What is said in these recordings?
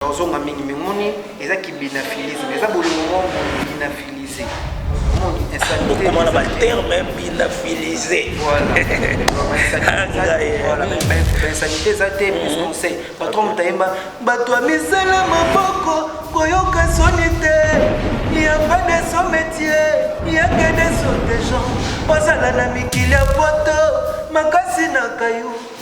ozonga mingi me moni eza kibinafilise eza bolingo mwa kibinafilise okomana baterme binafilise insanité eza te conseil patron moto ayemba bato ya misala maboko koyoka soni te yamba de son métier yaka de son des gens ozala na mikili ya poto makasi na kayo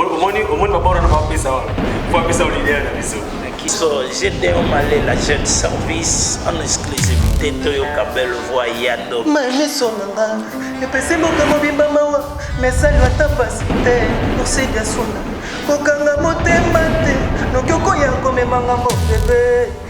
omoni omoni babora na bapesa wana po apesa olidea na biso so gdeo malela jeune service en exclusivité toyoka belle voix ya do mamiso na nga epesi mboka mobimba mawa mesali ata pasi te osedi asuna kokanga motema te noki okoya komema ngambo bebe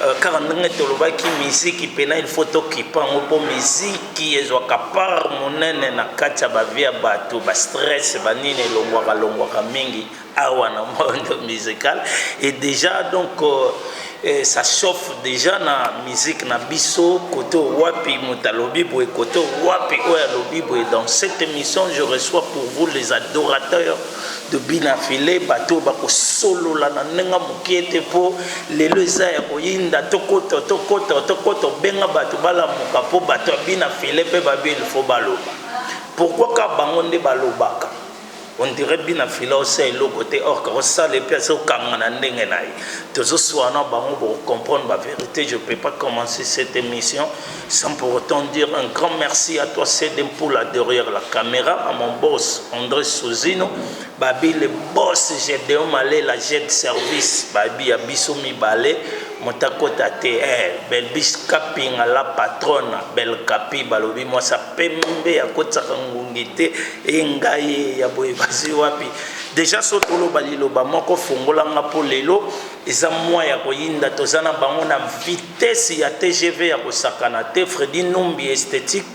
Euh, kaka ndenge tolobaki miziki mpena ilfo tokipa yango mpo miziki ezwaka part monene na kati ya bavie ya bato bastress banini elongwaka longwaka mingi awa na monde musical et déjà donc euh, eh, ça chauffe déjà na musique na biso koto wapi moto alobi boye koto wapi oyo alobi boye dans cette émission je reçois pour vous les adorateurs de bi na filet bato oyo bakosolola na ndenge moke te mpo lelo eza ya koyinda tokoto tokoto tokoto benga bato balamuka mpo bato ya bi na filet mpe babi ilfo baloba pourkui ka bango nde balobaka ondire bi na filet osa eloko te orke osala epe aza okanga na ndenge na ye tozoswana bango bokokomprendre baverité je peux pas commencer cette émission Sans pour autant dire un grand merci à toi CD Mpoula derrière la caméra, à mon boss André Sozino, Babi le boss Gedeon Malé, la jet service, Babi ya biso mibale, motakota te, eh, Belbis Kapinga la patronne, Bel Kapi, balobi moi sa pembe ya kotsaka ngungi te, e ngai ya boye bazi wapi. Déjà sotolo baliloba moko fongolanga po lelo Eza mois ya koyinda toza na bango na vitesse ya tgv ya kosakana te Freddy Numbi esthetique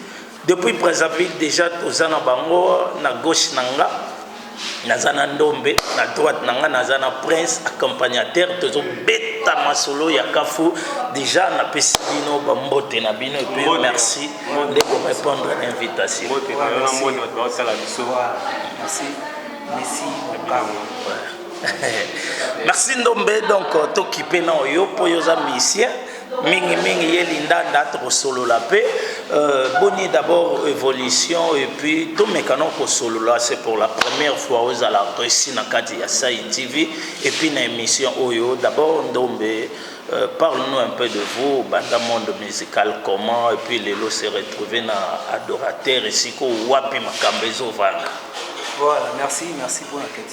depuis Brazzaville dejà toza na bango na gauche na nga naza na ndombe na droite na nga naza na prince accompagnateur tozo beta masolo ya kafu dejà napesi bino bambote na bino epuis merci nde korépondre na invitation Merci. Merci. Merci. merci ndombe donc tokipe na oyo mpo yo oza musicien mingimingi ye lindanda tokosolola mpe euh, boni d'abord évolution et puis tomekana kosolola c'est pour la première fois ozala reçu na kati ya sai tv et puis na émission oyo d'abord ndombe euh, parle-nous un peu de vous banda monde musical comment et puis lelo se retrouver na adorateur esiko wapi makambo ezovanda voilà merci merci pour la question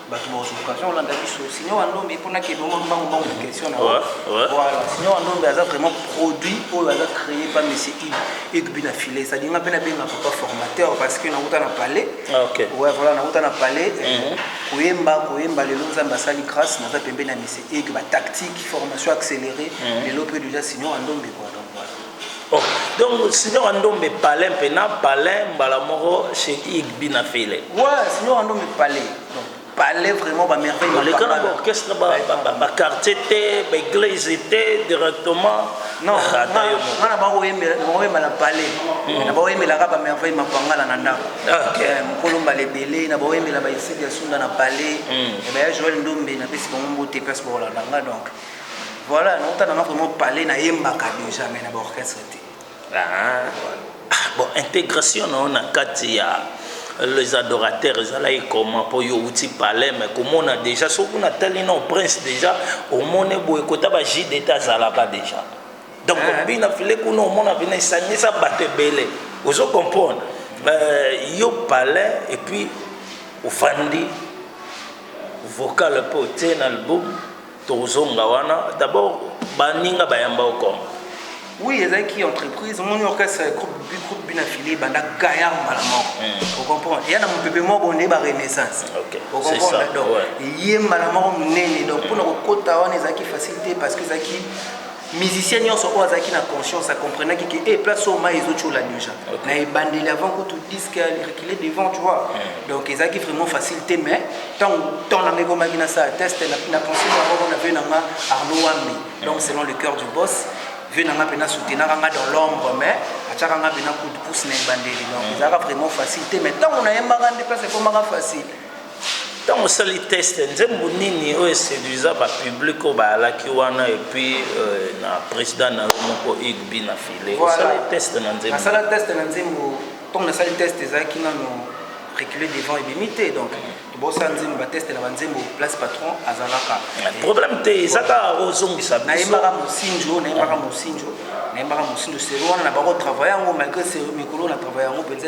bato bakozoluka avion olanda biso sino wandombe mpona ke bongo mbango mbango na question na voilà sino wandombe aza vraiment produit oyo aza créé pa monsieur ig igbi na filet cetadi nga mpe nabenga papa formateur parce que nakuta na palais ah, ouais voilà nakuta na palais euh, mhm. koyemba koyemba lelo nzambe asali grâce naza pembe na monsieur ig batactique formation accélérée mhm. lelo mpe déjà sino wandombe quoi Oh, donc signor Andombe palais mpe na palais mbala moko chez Igbi na Fele. Ouais, signor Andombe palais. Donc palais vraiment ba merveille ma Leka na ba orchestre ba ba ba, ba quartier te, ba église te directement. Non, Ah, ata yo moko. ngana bakoyembela bakoyemba na palais. Na bakoyembelaka ba merveille ma pangala na ndako. Ok. Eh, Mokolo mbala ebele na bakoyembela ba Isidi ya Sunda na palais. Eh ben, Joël Ndombe napesi bango mbote place bakolanda nga donc. Voilà, on t'a vraiment parlé na yembaka déjà mais na ba orchestre te. Ah. Bon, intégration na on a kati ya les adorateurs ezalaki comment mpo yo outi palais mais komona déjà soki natali na prince déjà omoni boye kota ba ji deta azalaka déjà donc ah. bina file kuna omona bina esangisa bato ebele ozo comprendre euh, yo palais et puis ofandi vocal mpo otie na album Tokozonga wana d'abord baninga bayamba yo comme oui ezalaki entreprise omoni orchestre groupe groupe bina file ebanda gaillard mbala moko hmm. ocomprendre eya na mopepe moko nde barenaissance ocomprendre donc eye mbala moko monene donc mpona hmm. kokota wana ezalaki facilité parce que ezalaki musicien nyonso oyo azalaki na conscience acomprenaki ke e eh, place oyo mai ezotyola déjà okay. na ebandeli avant kutu disque recule devant tu vois mm. donc ezalaki vraiment facile te mais ntango temps nanga ekomaki nasala test na pensé moko na vie nanga arno wambi donc mm. selon le cœur du boss vie nanga mpe nasoutenaka nga dans l'ombre mais atyaka nga mpe na coup de pouce na ebandeli donc mm. ezalaka vraiment facile te mais ntango nayembaka nde place ekomaka facile Ntango osali test, nzembo nini oyo eseduisa ba public oyo bayalaki wana et puis euh, na president na yo moko Hugues Bina File voilà. osali test na nzembo? Nasala test na nzembo ntango nasali test ezalaki nano reculer devant ebimi te donc bosala nzembo bateste na banzembo place patron azalaka problème te eza kaka ozongisa biso nayembaka mosinji oyo nayembaka mosinji oyo nayembaka mosinji seri wana na bango travaille yango malgré mikolo na travaille yango mpenza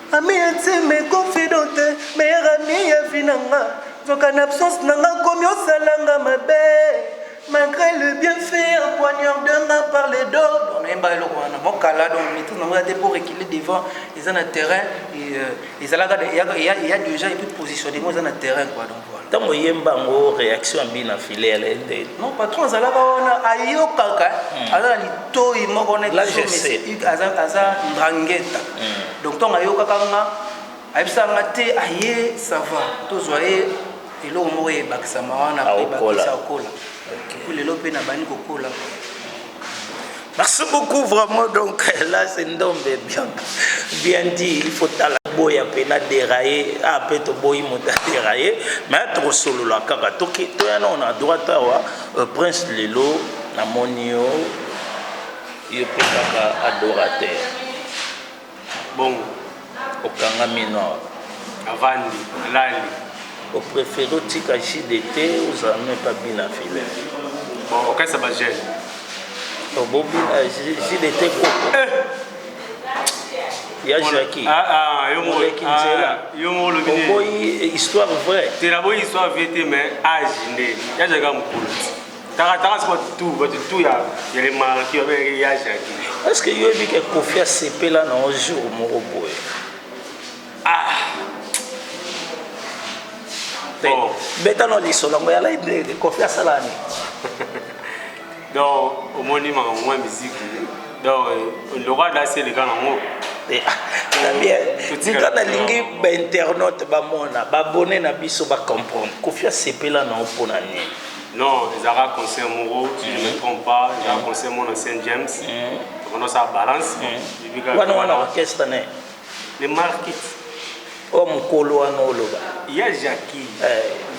Ami ya nzembe confidente meilleur ami ya vie na nga nzoka na absence na nga komi osala nga mabe malgré le bien fait en poignard de nga par les dos bon nayemba eloko wana mwa kala donc maîtrise nango ya te pour reculer devant eza na terrain ezalaka eya déjà epuis positionnement eza na terrain quoi donc Tango oyemba yango reaction ya bina filet ya lende. Non patron azalaka wana ayokaka hmm. aza na litoyi moko na aza aza ndangeta. Hmm. Donc tango ayokaka nga ayebisa nga te aye ah, ça va tozwa ye eloko moko ebakisama wana ebakisa akola. Lelo mpe nabandi kokola. Merci beaucoup vraiment donc là c'est ndombe bien bien dit il faut tala boya mpe na deraye a ah, mpe toboyi moto ya deraye mai tokosolola kaka toki toya nao na droite awa euh, prince lelo namoni yo yo mpe kaka adorateur Bongo. Okangami nord. Avandi, alali. O prefere otika JDT ozala meme pa bina filet. Bon, okasa ba gel. Obobina JDT koko. Eh. ya Jackie ah, ah, yo moleki ah, nzela yo molobi oboyi histoire vraie te naboyi histoire vraie te mais age nde ya Jackie mokolo Taratara siko tout bato tout ya ya le maraki ya ya jaki. Est-ce que yo bika kofi asepela na un jour moko boye? Ah. Bon. Beta no lisolo yango ya live de kofi asala ni. Donc omoni makambo mwa miziki. Donc lokola dasi eleka nango. Eh, ah, na bien tika nalingi bainternaute bamona babone na biso bacomprendre kofi asepela na yo mpo na nini Non ezalaka concert moko si je me trompe pas ezalaka concert moko na Saint James tokona osala balance wana wana orchestre ne le market o mokolo wana oloba ya jaki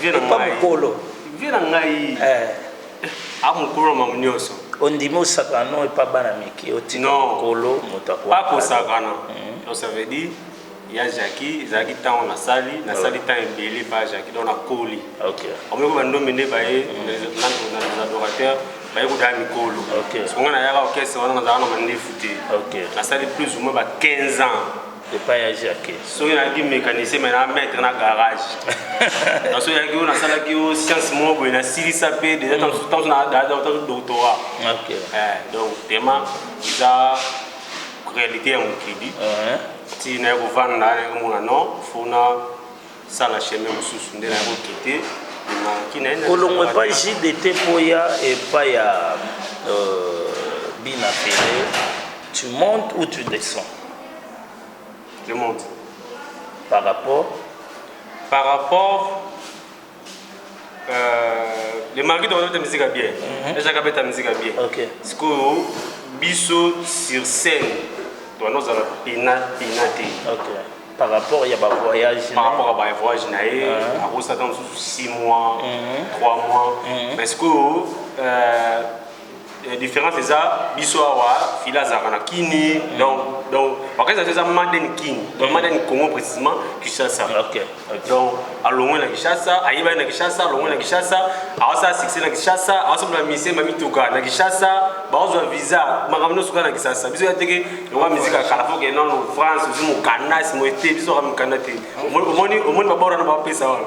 epa mokolo vie na ngai a mokolo na mamu nyonso ondimi osakana no epa bana mike otika mokolo moto akosakana donc ça veut dire ya jaki ezalaki ntango nasali nasali ah. ntango ebele pa jaki donc nakoli omeko bandombe nde baye les adorateurs baye kodaya mikolo songa nayaka orchestre wana nazalaka na mandefu te nasali plus ou moins ba 15 ans epai ya jacke soki nayaki mécanicien mai na maître na garage naso yaki oyo nasalaki yo science moko boye nasilisa mpe deja tanso natanso doctorat donc vraiment eza réalité ya mokili ti naye kovanda naye komona non fo nasala chemin mosusu nde naye kokite kolongwa epai jdt mpo ya epai ya euh, bina pele tu montes ou tu descends je monte par rapport par rapport Euh, le marquis tokobeta musique ya bien mhm. ejaka abeta musique ya bien sikoyo biso sur scène towana ozala pena pena te par rapport ya bavoyage par rapport ya bavoyage na ye ah. akosaka mosusu 6 mois 3 mhm. mois mhm. mais sikoyo euh, Eh, différence eza biso awa fila azalaka na kini mm. donc donc bakasi na biso eza maden king donc mm. maden congo précisément kinshasa donc alongwe na kinshasa ayebani na kinshasa alongwe na kinshasa awasala succès na kinshasa awasomola misie ma mituka na kinshasa bakozwa visa makambo nyonso kaka na kinshasa biso ya teke lokola miziki ya kala foke nano france ozi mokanda simoye te biso kaka mokanda te omoni babora na bapesa wana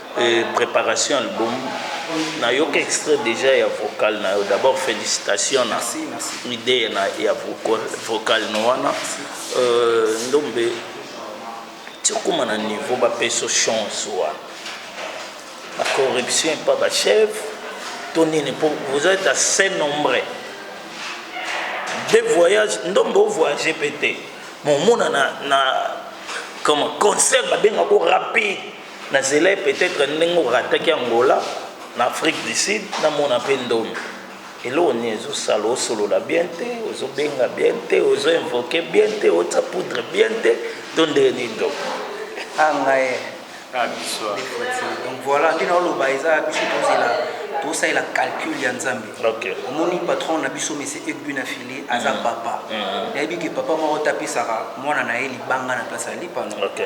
Preparation ya album na yoka extrait dejà ya vocal na yo d'abord felicitations na idee na ya vocal no wana ndombe ti okoma na niveau ba peso chance wana ba corruption epa ba chef to nini po vous êtes assez nombreux deux voyages ndombe o voyage pe te mais omona na na comme concert babenga ko rapide Na zelai peut etre ndenge o rataki Angola na Afrique du Sud na mona pe ndomi. Eloko nini ezo sala o solola bien te, ozo benga bien te, ozo invoquer bien te, o tia poudre bien te to ndenge nini donc? Ah ngai eh. Ah biso ah. Donc voilà nde na oloba eza biso tozela tosalela calcul ya nzambe okay. omoni patron na biso monsieur egbu na file aza mm. papa mm. nayebi ke papa moko tapesaka mwana na ye libanga na place ya lipano okay.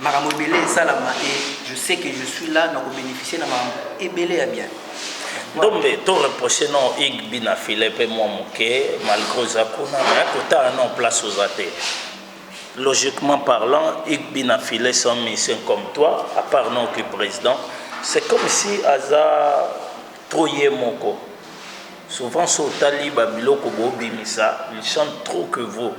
Makambo ebele esalama et je sais que je suis là na ko beneficier na makambo ebele ya bien. Ndombe to reprocher non Hugues Bina filet mpe mwa moke malgré oza kuna mais kotala non place oza te. Logiquement parlant, Hugues Bina filet son mission comme toi, à part non que président, c'est comme si aza trop ye moko. Souvent so otali ba biloko bobimisa, il chante trop que vous.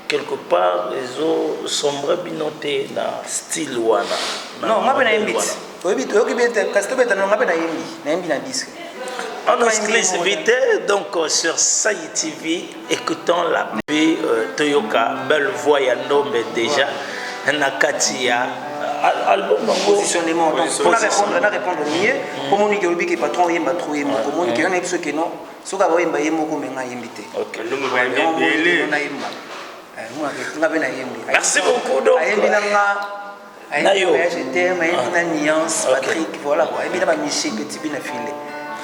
Quelque part ezo sombra bino te na style wana. Non, nga pe nayembi ti. Oyebi toyoki bien te kasi tobeta no nga pe nayembi, nayembi na disque. En exclusivité, donc euh, sur Saï TV, écoutons la vie euh, Toyoka, belle voix ya Ndombe déjà, na kati ya euh, album positionnement donc pour répondre na répondre mieux pour monique obi que patron yemba trop yemba pour monique on est ce que non soki akoyemba ye moko me nga ayembi te nayemba nga mpe nayembi merci beaucoup donc ayembi na nga ayembi na voyage terme ayembi na nuance patrick voilà quoi ayembi na ba michel petit bina file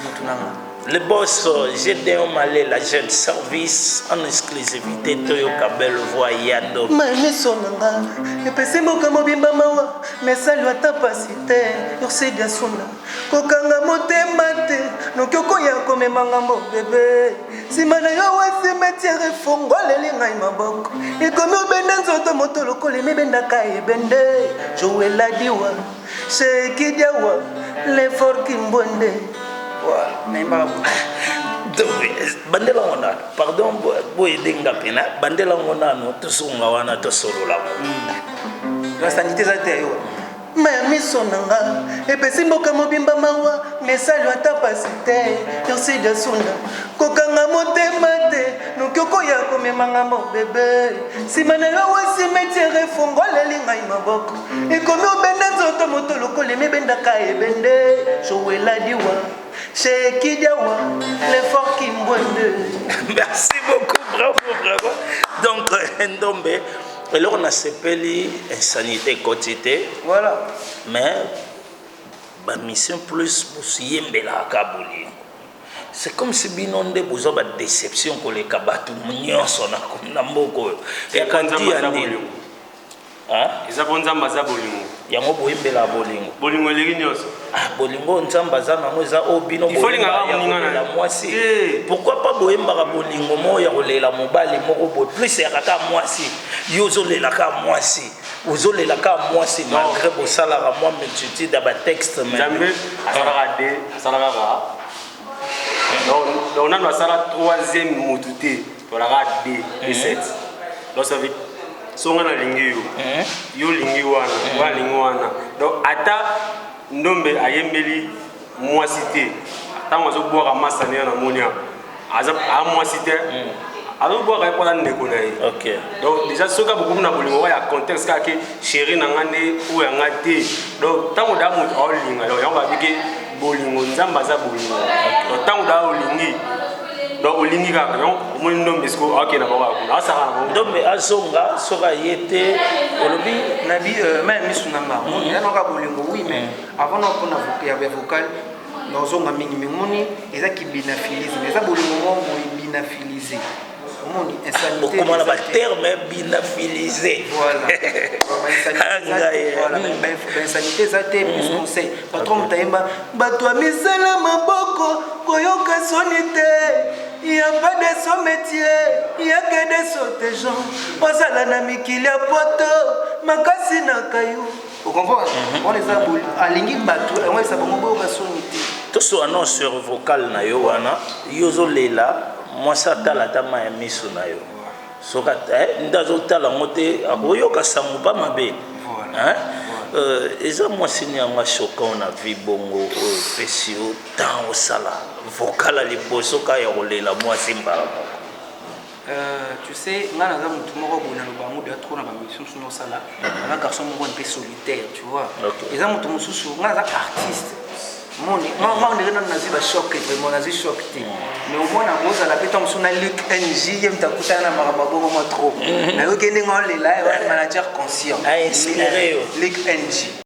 mutu na nga le boss Gédéon Malé, la jeune service en exclusivité Toyoka belle voix Yado. Maneso nanga, epesi mboka mobimba mawa, mais salwa ta pasite, ursi gasuna. Kokanga motema te noki okoya komema ngambo bebe nsima na yo wa cimetiere efongoleli ngai maboko ekomi obenda nzoto moto lokola emibendaka ebende joeladiwa shekidiawa lefor kimbonde bandela ngo nano pardon boyede nga mpena bandela ngo nano tosunga wana tosolola ngo hmm. basangite eza te yo Mais miso na nga epesi mboka mobimba mawa mais salu ata pasi te merci de sunda kokanga motema te noki okoya komema nga mo bebe nsima na yo wa cimetiere efongoleli ngai maboko ekomi obenda nzoto moto lokola emibendaka ebende joeladiwa shekidiawa lefort kimbwende merci beaucoup bravo bravo donc ndombe Eloko na sepeli insanite ekoti te. Voilà. Mais ba mission plus bosiyembela ka bolingo. C'est comme si bino nde boza ba déception koleka bato nyonso na na mboka oyo. Ekandia nini? Hein? Eza po nzambe aza bolingo. yango boyembela bolingo bolingo eleki nyonso ah, bolingo nzambe aza nango eza oyo bino bolela mwasi eh. pourkui pa boyembaka bolingo moko ya kolela mobali moko boye plus ya kaka mwasi yo ozolela ka mwasi ozolela ka mwasi malgré bosalaka mwa multitude ya batexte nzambe asalaka de asalaka kaka donc nanu asala troisième motu te Tolaka de reset. Losa vite. Songa na lingi yo. Yo lingi wana, wa lingi wana. Donc ata ndombe ayembeli mwasi te. Tango azo bwaka masa ne na monia. Aza a mwasi te. Azo bwaka ye pona ndeko na ye. OK. Donc déjà soka beaucoup na bolingo wa ya contexte ka ke chérie na nga nde ou ya nga te. Donc tango da mutu aolinga yo yango ba bike bolingo nzambe aza bolingo donc ntango daa olingi donc olingi kaka donc omoni ndombe siko akenda bango akuna asaka na bango ndombe azonga soki aye te olobi na bi euh, ma ya misu na nga mm. yanaka bolingo wi mai mm. avant na mpona ya vocal nazonga mingi mimoni eza kibinaphilisme eza bolingo mwa boye binaphilisme okoma na baterme binafilise bainsanité eza te plus mhm. conseil patron moto ayemba bato ya misala maboko koyoka soni te ya pas de son métier ya que de sote gens ozala na mikili ya poto makasi na kayo tosua no sur vocal na yo wana yo ozolela mwasi atala ata ma ya miso na yo soki eh, nde azotala yango te akoyoka sango mpa mabe euh, eza mwasi ni yango asokan na vi bongo oyo opesi yo ntan osala vokala liboso ka ya kolela mwasi mbala moko Euh, tu sais, nga naza mutu moko boye naloba yango deja trop na bamission mosusu nosala na mhm. garçon moko mpe solitaire tu vois eza motu mosusu nga naza artiste moni nga mhm. ndenge nano nazwi bachoc vraiment nazwi choc te mhm. mais omona kozala mpe ntango mosusu na luk nj ye moto akutana na makambo abongo mwa trop nayoki ndenge olela manager conscient luk nj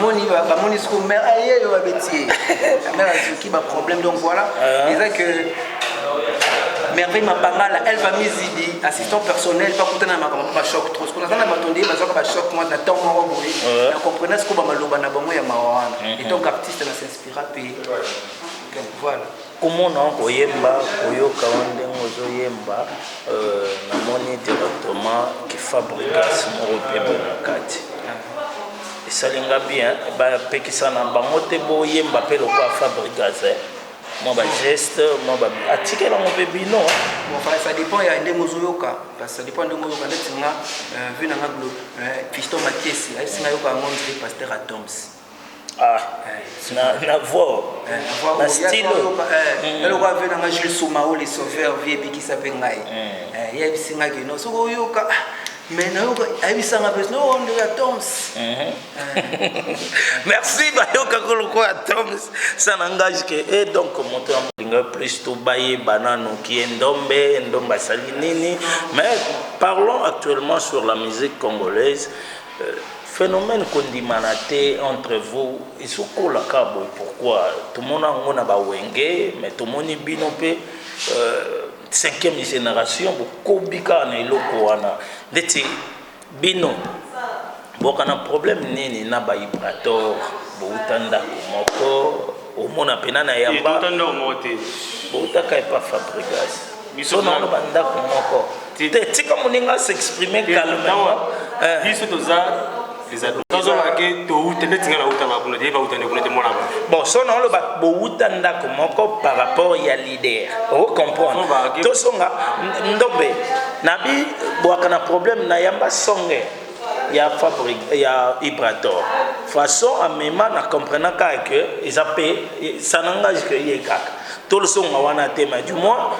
moni bamoni siko mare ayeyo babetie mare azuki baproblème donc voilà ah. eza que merveille mapangala elle va mizidi assistant personnel bakutana na makambo ma choc trop siko naza na bato nde bazwaka bachoc mwa na temps moko boye ah. na comprena siko bamaloba na bango ya mawa wana mhm. et donc artiste na s'inspira mpe voilà Komona yo koyemba koyoka yo ndenge ozo yemba na moni directement ki fabrigas moko bien boye na kati esali nga bien ba pekisa na bango te bo yemba pe lokola fabrigas eh. mwa bageste mwa atikela ngo mpe bino ça dépend ya ndenge ozoyoka parce ça dépend ndenge oyoka ndeti nga euh, vu nanga euh, fiston makiesi ayebisi nga yoka yango ndiri pasteur atoms Ah, na, na voix, na stylo. eloko ave na ngai jules somao le sauveur vie ebikisa mpe ngai Eh, ye ayebisi ngai kino soki oyoka ah, mais nayoka ayebisa ngai mpe no nde ya toms Merci bayoka ko lokola Toms ça n'engage que et donc moto ya molinga plus to baye banano qui est Ndombe Ndombe asali nini mais parlons actuellement sur la musique congolaise Phenomène kondimana te entre vous ezo kola kaka boye pourquoi? Tomona yango na ba wenge mais tomoni bino pe cinquième generation bokobi kaka na eloko wana ndeti bino bokana problème nini na ba ibrator bowuta ndaku moko omona pena na yamba ebota ndako moko te boutaka epa fabrigas biso na ba ndako moko te tika moninga s'exprimer calmement eh. biso toza bon so na oloba bowuta ndako moko par rapport ya leader ocomprendre tosonga ndombe nabi bwaka na problème na yamba songe ya fabric ya ibrator façon amema na comprenant kaka que eza mpe ça n'engage que ye kaka tolosonga wana te mais du moins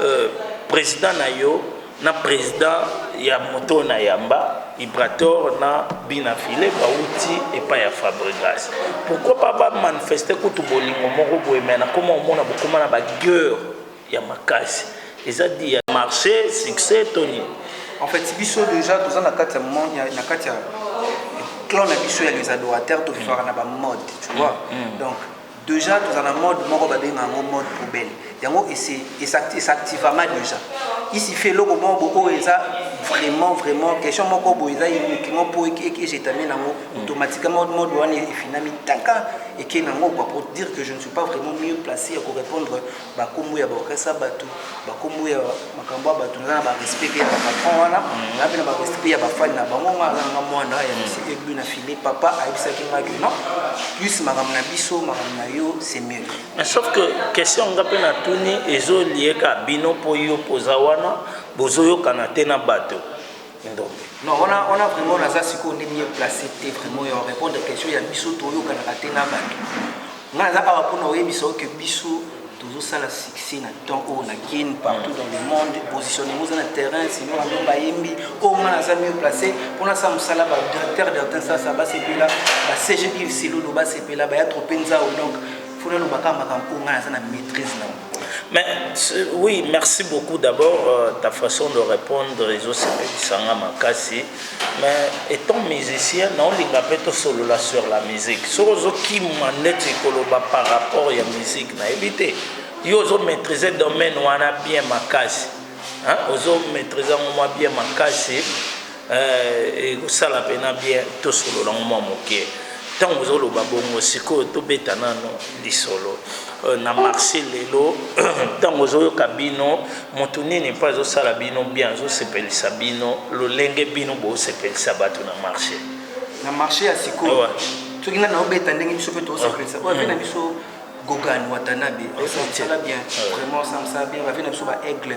euh, président na yo na président ya moto na yamba ibrator na bina file bauti epai ya fabregas pourquoi pas bamanifeste kutu bolingo moko boye mai nakoma omona bokoma na bagueur ya makasi eza dit ya marche succès to nini en fait biso déjà toza na kati ya monde ya- na kati ya clan na biso ya les adorateurs to vivaka na ba mode tu vois donc déjà toza na mode moko babenga yango mode poubelle yango esi- esacti- esactivama déjà isi fait eloko moko bo- oyo eza vraiment vraiment question moko boye eza unique moko po ejetami nango automatiquement mode wana efinami taka eke nango quoi pour dire que je ne suis pas vraiment mieux placé ya korépondre ba kombo ya ba orchestre ya batu ba kombo ya makambo ya batu naza na ba respect pe ya ba patron wana na pe na ba respect ya ba fan na bango nga aza nga mwana ya monsieur Egbu na filet papa ayebisaki nga que non plus makambo na biso makambo na yo c'est mieux mais sauf que question nga pe na tuni ezo lieka bino po yo poza wana bozo yokana te na bato ndombe non wana wana vraiment naza sikoyo nde mieux place te vraiment ya répondre question ya biso toyokanaka te na bato ngai naza awa mpona oyebisa oke biso tozosala succès na temps oyo na kin partout dans le monde positionnement oza na terrain sinon yango bayembi oyo ngai naza mieux placé mpo nasala mosala badirecteur dertin sasa basepela bacg ive silulu basepela baya trope nzao donc fona lobaka makambo oyo ngai naza na maîtrise nango Mais oui, merci beaucoup d'abord euh, ta façon de répondre les autres sanga makasi. Mais étant musicien, non linga peto solo là sur la musique. Soro zo ki manette koloba par rapport à la musique na éviter. Yo zo maîtriser domaine wana bien makasi. Hein, ozo maîtriser moi bien makasi. Eh, ekosala pena bien tosolola ngo mwa moke ntango ozoloba bongo sikoyo tobeta nano lisolo euh, na marché lelo ntango ozoyoka bino moto nini mpo azosala bino bien azosepelisa bino lolenge bino bosepelisa bato na marché na marché ya sikoyo soki nani obeta ndenge biso mpe tosepelisa oyo mpe na mm. biso gogan watanabe osala bien vraiment osamisa bien bavi na biso baaigle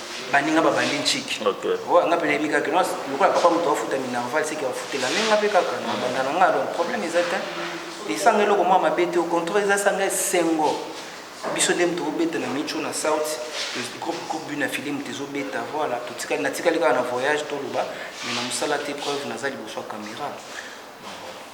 baninga babandi nciki oh, nga mpe nayebi kaka kino lokola papa moto afuta minerval seke afutela me nga mpe kaka na banda na nga donc problème eza te esanga eloko mwa mabe te au contraire eza sanga esengo biso nde moto obeta na micho na south groupe groupe bina file moto ezobeta voilà totikali natikali kaka na voyage toloba me na mosala te preuve naza liboso ya caméra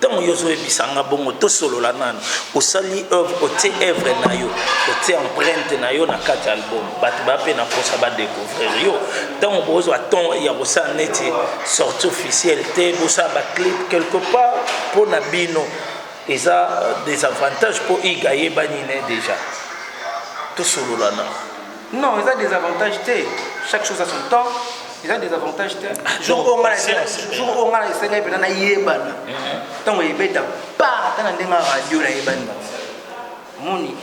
tango yo ozoyebisa nga bongo tosolola nanu osali oeuvre otie oeuvre na yo otie empreinte na yo na kati ya album bato baya mpe na mposa badecouvrir yo ntango bozwa temps ya kosala neti sorti officielle te bosala baclip quelque part mpo na bino eza euh, des avantages mpo iga ayebani ne déjà tosolola nanu Non, eza des avantages te. Chaque chose a son temps. Eza des avantages te. Jour oyo nga na jour oyo nga na esenga epena na yebana. Tango ebeta pa ata na ndenge ya radio na yebani ba. Moni.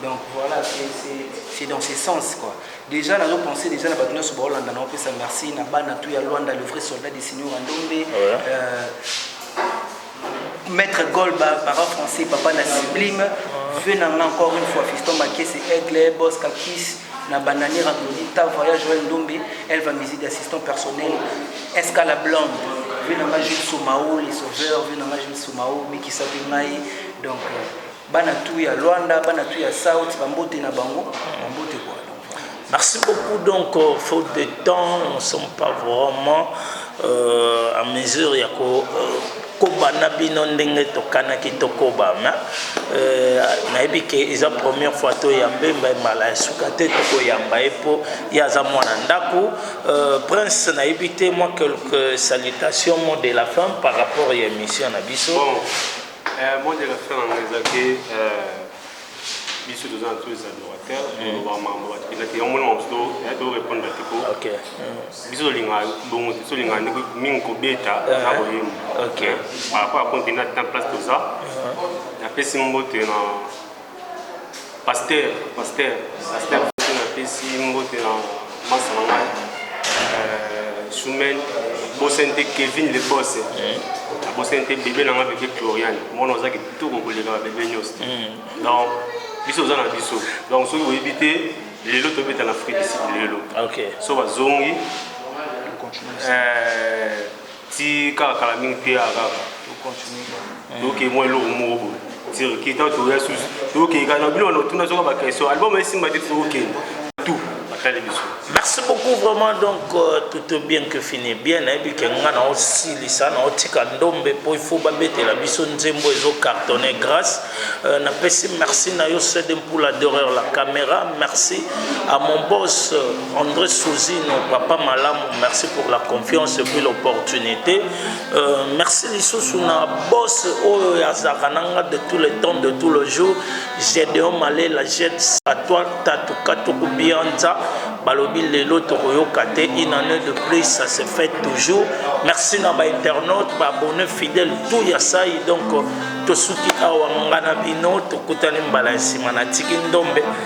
Donc voilà, c'est c'est c'est dans ce sens quoi. Déjà nazo penser déjà na bato nyonso baolanda na opesa merci na bana tout ya Luanda le vrai soldat de Seigneur Ndombe. Ouais. Euh, Maître Golba, parent français, papa na sublime, vœux na nga encore une fois, Fiston Makese, Aigle, Boss Kakis, na Banani Randoni, ta voyage Joël Ndombe, Elva Mizi d'assistant personnel, Esca la Blonde, vœux na nga Jules Soumao, les sauveurs, vœux na nga Jules Soumao, Bikisa Bingai, donc euh, Bana tout ya Luanda, bana tout ya South, bambote na bango, bambote quoi. Merci beaucoup. Donc, euh, faute de temps, nous ne sommes pas vraiment euh, en mesure ya ko euh, koba na bino ndenge tokanaki tokoba ma euh, nayebi ke eza première fois toyamba ye mbai mala ya suka te tokoyamba ye mpo ye aza mwana ndako euh, prince nayebi te mwa quelques salutations mot de la fin par rapport ya émission na biso bon. Eh, mot de la fin na ngai eza ke eh, biso toza na tous adorateur toloba mambo bato mpenza te yango mona mamosu torépondre te po Ok. biso tolinga bongo te tolinga ndeko mingi kobeta na koyemba Ok. par rapport ya konte na temps place toza napesi mbote na Pasteur, pasteur, pasteur Fufu napesi mbote na masta na ngai euh, Sumel, bosani te Kevin le boss, nabosani te bebe na ngai bebe Cloriane, mwana oza kitoko koleka ba bebe nyonso, donc biso oza na biso, donc soki oyebi te lelo tobeta na Afrique du Sud lelo, Ok. so bazongi euh, ti kaka kala mingi te ya kaka toke mwa eloko moko boye tirki ntango toya susu tokeka na bino wana otuna soka baquestion album esimba te tokokende tout atali biso merci beaucoup vraiment donc euh, tout bien que fini bien nayebi ke nga na osilisa na otika ndombe mpo ifo babetela biso nzembo ezo cartonne grâce euh, napesi merci na yo sede mpula doreur la caméra merci à mon boss euh, Andre Souzino, papa malamu, merci pour la confiance et puis l'opportunité. Euh, merci lisusu na boss oyo ya Zarananga de tous les temps, de tous les jours. Gedeon Malé, la jette à toi, Tatuka Tokubianza, Balobi Lelo Tokoyokate, une année de plus, ça se fait toujours. Merci na ba internautes, ba abonnés fidèles, tout ya ça, donc tosuki awa ngana bino, tokutani mbala nsima na tiki ndombe.